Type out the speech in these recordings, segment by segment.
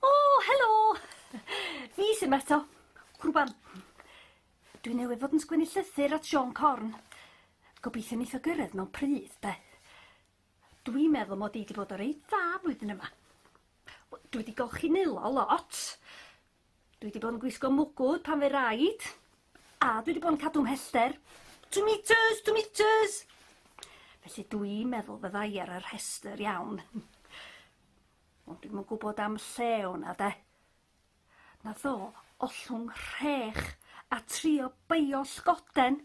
O! Helo! Fi sy 'ma eto. Rŵan, dwi newydd fod yn sgwennu llythyr at Siôn Corn. Gobeithio neith o gyrraedd mewn pryd, 'de. Dwi'n meddwl mod i 'di bod yn reit dda flwyddyn yma. Wel, dwi 'di golchi nwylo lot, dwi 'di bod yn gwisgo mwgwd pan fy raid, a dwi 'di bod yn cadw 'mhellter. Two metres, two metres! Felly dwi'n meddwl fydda i ar y rhestr iawn. Ond dwi'm yn gwybod am lle o'na de. Na ddo, ollwng rhech a trio beio llgoden.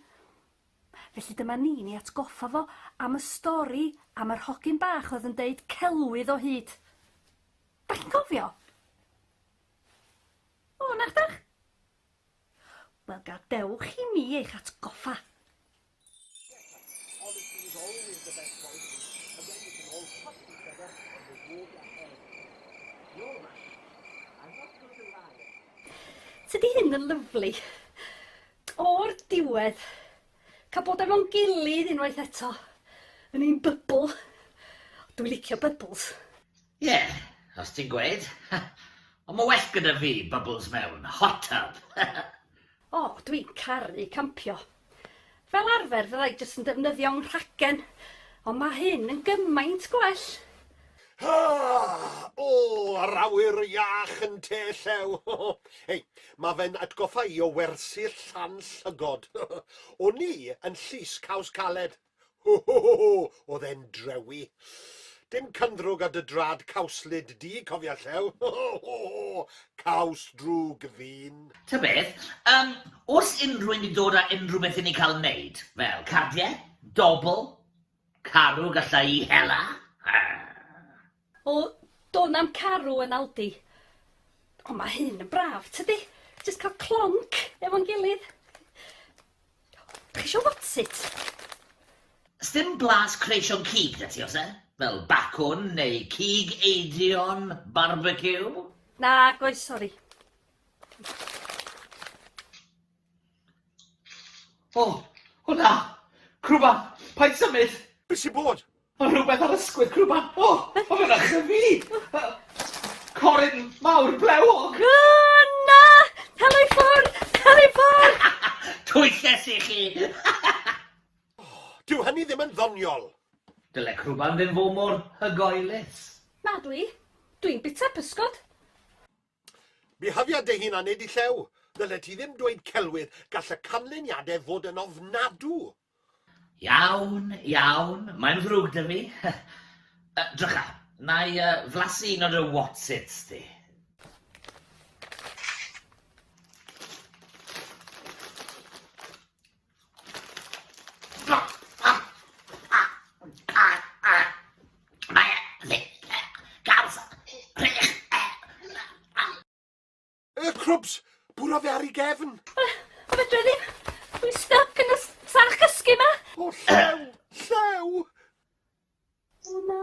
Felly dyma ni'n ei atgoffa fo am y stori am yr hogyn bach oedd yn deud celwydd o hyd. Da chi'n cofio? O, na ydach? Wel, gadewch i mi eich atgoffa. Tydi hyn yn lyfli. O'r diwedd, cael bod efo'n gilydd unwaith eto, yn ein bybl. Dwi'n licio bybls. Ie, os ti'n gweud. Ond mae well gyda fi bubbles mewn hot tub! O, dwi'n caru campio. Fel arfer fydda i jyst yn defnyddio 'nghragen, ond mae hyn yn gymaint gwell! Haa! O, yr awyr iach yn Te Llew! Hei, mae fe'n atgoffa i o wersyll Llan Llygod. O'n i yn Llys Caws Caled. Ho ho ho ho! O'dd e'n drewi. Dim cynddrwg ar dy drad cawslyd di, cofia Llew. Ho ho ho ho! Caws drwg ddyn. Ta beth, yym, o's unrhywun di dod a unrhyw beth i ni cael neud? Fel, cardiau? Dobl? Carw gallai i hela? Hyrr! O, dôn am carw yn Aldi. Ond mae hyn yn braf, tydi? Jyst cael clonc efo'n gilydd. Dach chi eisiau what's it? Sdim blas creision cig 'da ti, oes e? Fel bacwn neu cig eidion barbeciw? Nag oes, sori. O, hwnna! Crwban! Paid symud! Be' sy bod? Ma' rhywbeth ar ysgwydd Crw Bappo! Ma' fe'n achub i! Coryn mawr blewog! Gwna! Helo i ffwr! Helo i ffwr! Twyllys i chi! Dyw hynny ddim yn ddoniol! Dyle crwban ddim fo' mor hygoelus. Nadw i. Dwi'n bita pysgod. Byhafiad dy hun a nid y llew. Ddyled ti ddim dweud celwydd, gall y canlyniadau fod yn ofnadw. Iawn, iawn, mae'n ddrwg da fi. Yy, drycha, na i yy flasu un o dy whatsits di. Y crwbs! Bwrodd e ar ei gefn! O, o fedra i ddim! Dwi'n styc yn y s- sach cysgu ma! O, llew! Llew! O na.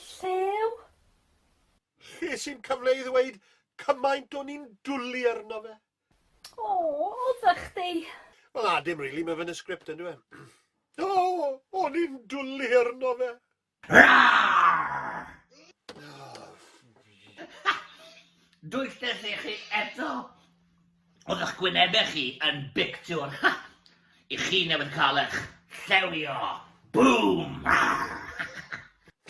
Llew? Ches i'm cyfle i ddweud cymaint o'n i'n dwli arno fe. O, oddach chdi? Wel na, dim rili, mae fe yn y sgript yndyw e? O, o'n i'n dwli arno fe! Dwysais i chi eto! Oedd eich gwynebau chi yn bictiwr! I chi newydd cael eich llewio! Bŵm!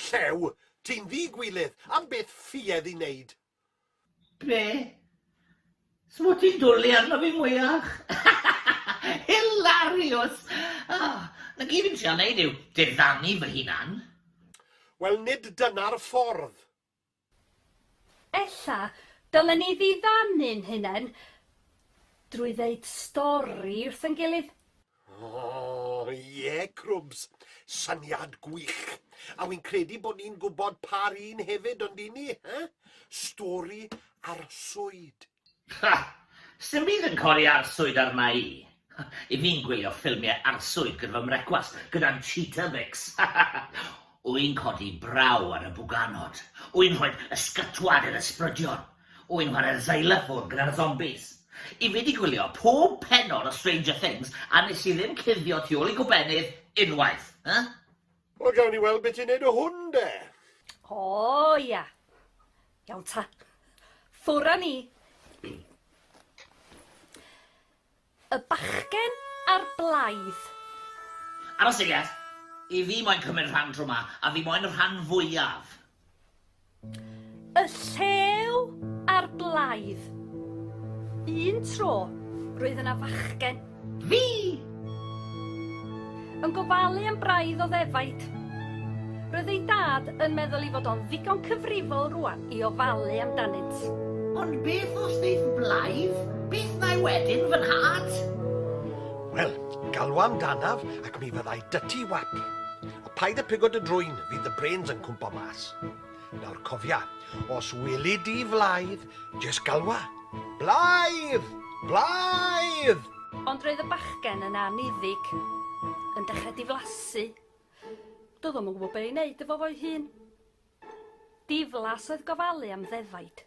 Llew? Ti'n ddi-gwilydd! Am beth ffuedd i wneud? Be? S'mod ti'n dwli arno fi mwyach? Hilarious! Ah, na gyd fi'n trio neud yw diddanu fy hunan. Wel nid dyna'r ffordd. Ella dylen ni ddiddanu'n hunen drwy ddeud stori wrth ein gilydd. Oh, ie, Crwbs. Syniad gwych. A wy'n credu bod ni'n gwybod pa'r un hefyd, ond dyn ni, eh? Stori arswyd. Ha! Sdim byd yn codi arswyd arna i. I fi'n gwylio ffilmiau arswyd gyda fy mrecwast, gyda'n Cheetabix. Wy'n codi braw ar y bwganod. Wy'n rhoi ysgytwad i'r ysbrydion. Wy'n chwarae'r xylophone gyda'r zombis. I fi 'di gwylio pob pennod o Stranger Things a nes i ddim cuddio tu ôl i gobennydd unwaith. Huh? Wel gawn ni weld be ti'n neud o hwn de! O ia! Iawn ta. Ffwr a ni! Y bachgen a'r blaidd. Ar y seiat, i fi moyn cymryd rhan tro ma, a fi moyn y rhan fwyaf. Y llew a'r blaidd. Un tro, roedd yna fachgen. Fi! Yn gofalu am braidd o ddefaid. Roedd ei dad yn meddwl ei fod o'n ddigon cyfrifol rwan i ofalu amdanynt. Ond beth os ddeith blaidd? Beth ddau wedyn, fy nhad? Wel, galw am danaf ac mi fyddai dyty wap. A paid a pigo dy drwyn, fydd dy brains yn cwmpo mas. Nawr cofia, os weli di flaidd, jes galwa, Blaidd! Blaidd! Ond roedd y bachgen yn anniddig, yn dechrau diflasu. Doedd o'm yn gwybod be i wneud efo fo'i hun. Diflas oedd gofalu am ddefaid.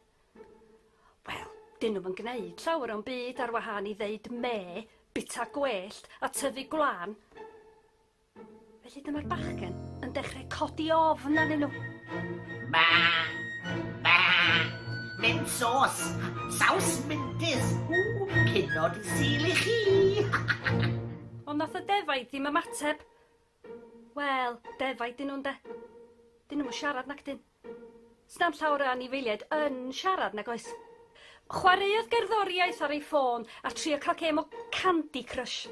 Wel, dyn nhw'm yn gwneud llawer o'n byd ar wahân i ddeud me, bita gwellt a tyfu gwlân. Felly dyma'r bachgen yn dechrau codi ofn arnyn nhw. Ba! Ba! Mynd sos! Saws mintis! Ww, cynod i sil i chi! Ond nath y defaid ddim ymateb. Wel, defaid dyn nhw'n de. Dyn nhw'n siarad nac dyn. Sna'n llawer o anifeiliaid yn siarad nag oes. Chwaraeodd gerddoriaeth ar ei ffôn a trio cael gêm o Candy Crush.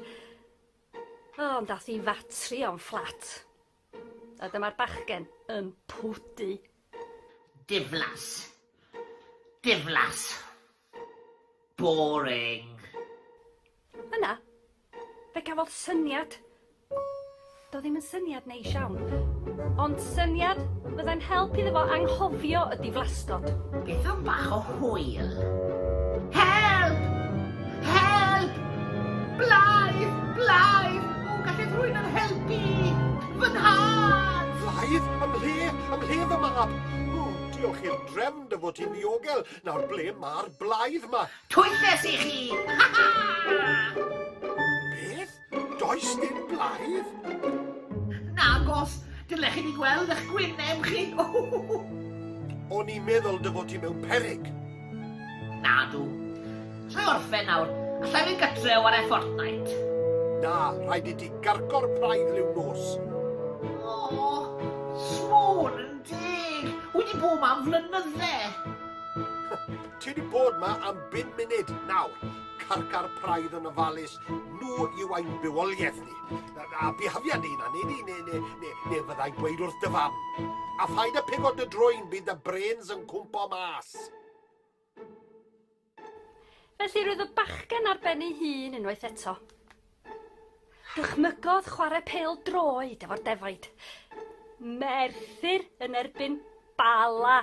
O, ond ath i fatri o'n fflat. A dyma'r bachgen yn pwdu. Diflas. Diflas. Boring. Yna, fe gafodd syniad. Do ddim yn syniad Neis iawn. Ond syniad fyddai'n help iddo fo anghofio y diflasgod. Beth am bach o hwyl? Help! Help! Blaidd! Blaidd! O, gallai rhywun yn helpu! Fy nhad! Blaidd? Ym mhle? Ym mhle fy mab? O, diolch i'r drefn dy fod ti'n ddiogel. Nawr ble mae'r blaidd ma? Twyll es i chi! Ha ha! Beth? Does dim blaidd? Nagos, dylech chi ni gweld eich gwyneb chi. O'n i'n meddwl dy fod ti mewn perig. Nadw. Allai orffen nawr. Allai fynd gytre o ar e Fortnite. Na, rhaid i ti gargo'r praidd liw nos. O, sôn yn deg. Wedi bod ma am flynydde. Ti wedi bod ma am bum munud nawr. Carcar praidd yn ofalus Nhw yw ein bywoliaeth ni. A bihafiad ni'n anni ni, neu, neu, neu, neu fyddai'n gweud wrth dy fam. A phaid y pigo dy droi'n bydd y brains yn cwmpo mas. Felly roedd y bachgen ar ben ei hun unwaith eto. Dychmygodd chwarae pel droed efo'r defaid. Merthyr yn erbyn Bala.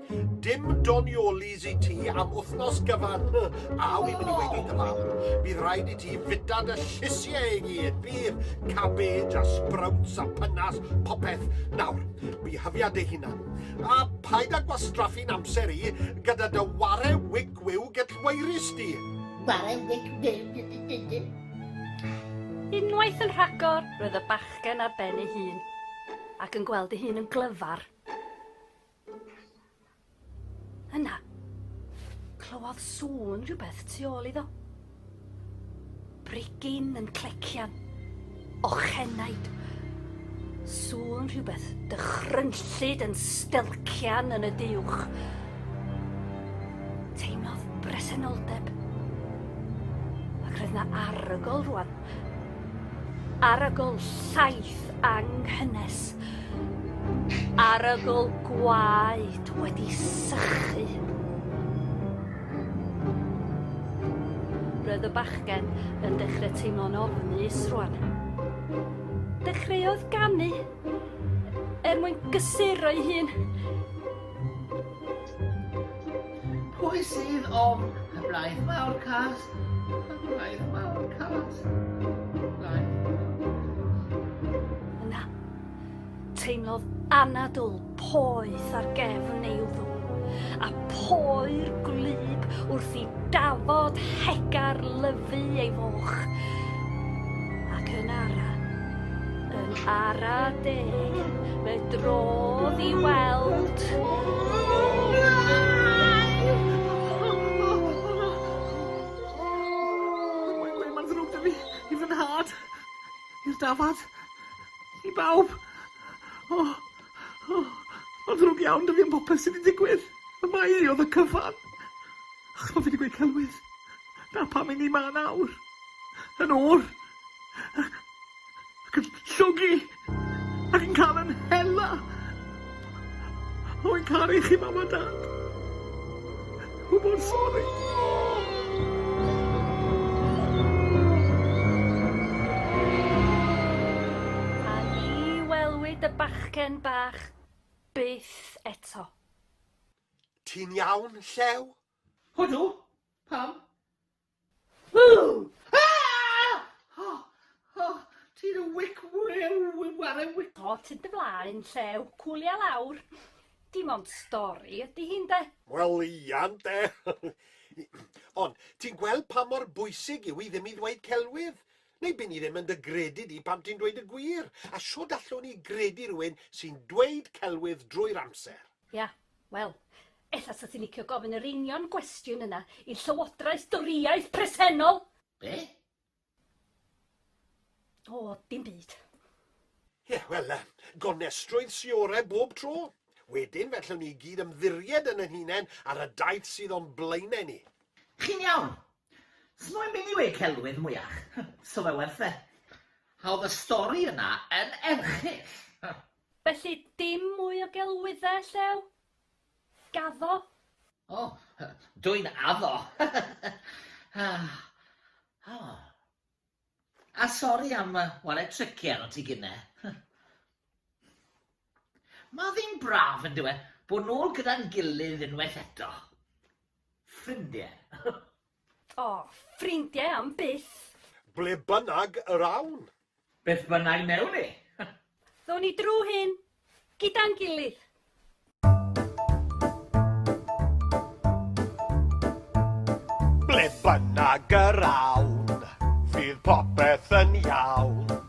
Dim doniolis i ti am wythnos gyfan. A wy'n mynd i weid i dy mam. Bydd rhaid i ti fita dy llysiau i gyd. Bydd cabbage a sprouts a pynas, popeth. Nawr, bihyfia dy hunan. A paid â gwastraffu'n amser i gyda dy ware wic wiw gellwaerus di. Ware wic wiw? Unwaith yn rhagor, roedd y bachgen ar ben ei hun, ac yn gweld ei hun yn glyfar. Yna, clywodd sŵn rhywbeth tu ôl iddo. Brigyn yn clecian. Ochenaid. Sŵn rhywbeth dychrynllyd yn stelcian yn y diwch. Teimlodd bresenoldeb. Ac roedd na arogl rwan. Arogl llaeth anghynnes. Arogl gwaed wedi sychu. Roedd y bachgen yn dechrau teimlo'n ofnus rwan. Dechreuodd ganu er mwyn gysuro'i hun. Pwy sydd ofn y braidd mawr cas? Y braidd mawr cas. Yna, teimlodd anadl poeth ar gefn ei wddw, a poer gwlyb wrth i dafod hegar lyfu ei foch. Ac yn ara, Yn ara deg, fe drodd i weld... Mae'n ddrwg 'da fi, i fy nhad, i'r dafad, i bawb. O, o, mae'n ddrwg iawn 'da fi am popeth sy' 'di digwydd, ond mae hi o'dd y cyfan. Achos pan fi 'di gweud celwydd, 'na pam 'yn ni 'ma nawr, yn oer. ac yn llogi ac yn cael yn hela. Rwy'n caru chi, Mam a Dad. Rwy mor sori. A ni welwyd y bachgen bach byth eto. Ti'n iawn, Llew? Odw. Pam? Ww! Aah! O! O! Ti'n y wic wrew, ware wic. O, tyd dy flaen, llew, cwlia lawr. Dim ond stori ydy hi, ynde? Wel, ia, ynde? Ond, ti'n gweld pa mor bwysig yw i ddim i ddweud celwydd? Neu by' ni ddim yn dy gredu di pan ti'n dweud y gwir. A shwd allwn ni gredu rhywun sy'n dweud celwydd drwy'r amser? Ia, wel, ella 'sa ti'n licio gofyn yr union gwestiwn yna i'r Llywodraeth Dorïaidd presennol! Be? O, dim byd. Ie, wel, gonestrwydd sy orau bob tro. Wedyn, fe allwn ni i gyd ymddiried yn yn hunain ar y daith sydd o'n blaenau ni. Chi'n iawn. S'moyn byd i weu celwydd mwyach. So fe werth e. Hawdd y stori yna yn erchyll. Felly dim mwy o gelwyddau, Llew? Gaddo? O, dw i'n addo! A sori am ware tricie arnot ti gynne. Mae ddim braf, yn dyw e, bod nôl gyda'n gilydd unwaith eto. Ffrindie. O, ffrindiau am byth! Ble bynnag yr awn. Beth bynnag newn ni. Ddown ni drwy hyn, gyda'n gilydd. Ble bynnag yr awn. Fydd popeth yn iawn.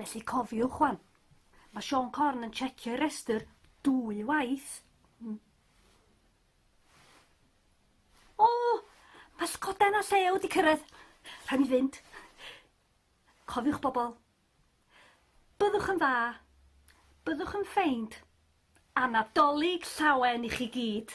Felly cofiwch wan, mae Sean Corn yn checio i restr dwy waith. Mm. O, mae sgoden a llew di cyrraedd. Rhaid mi fynd. Cofiwch bobl. Byddwch yn dda. Byddwch yn ffeind. A Nadolig llawen i chi gyd!